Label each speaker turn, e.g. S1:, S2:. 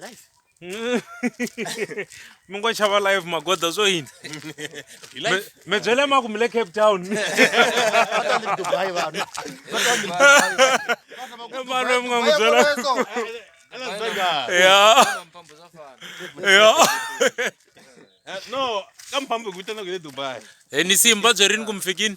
S1: life
S2: mi ngo chava live magoda swo yini mi byele maku mi le cape town mano mi nga n'wi byela ya ya eh, no
S3: ka mphambo hi vitana ku le dubai e ni simba
S2: byerini ku mi fikini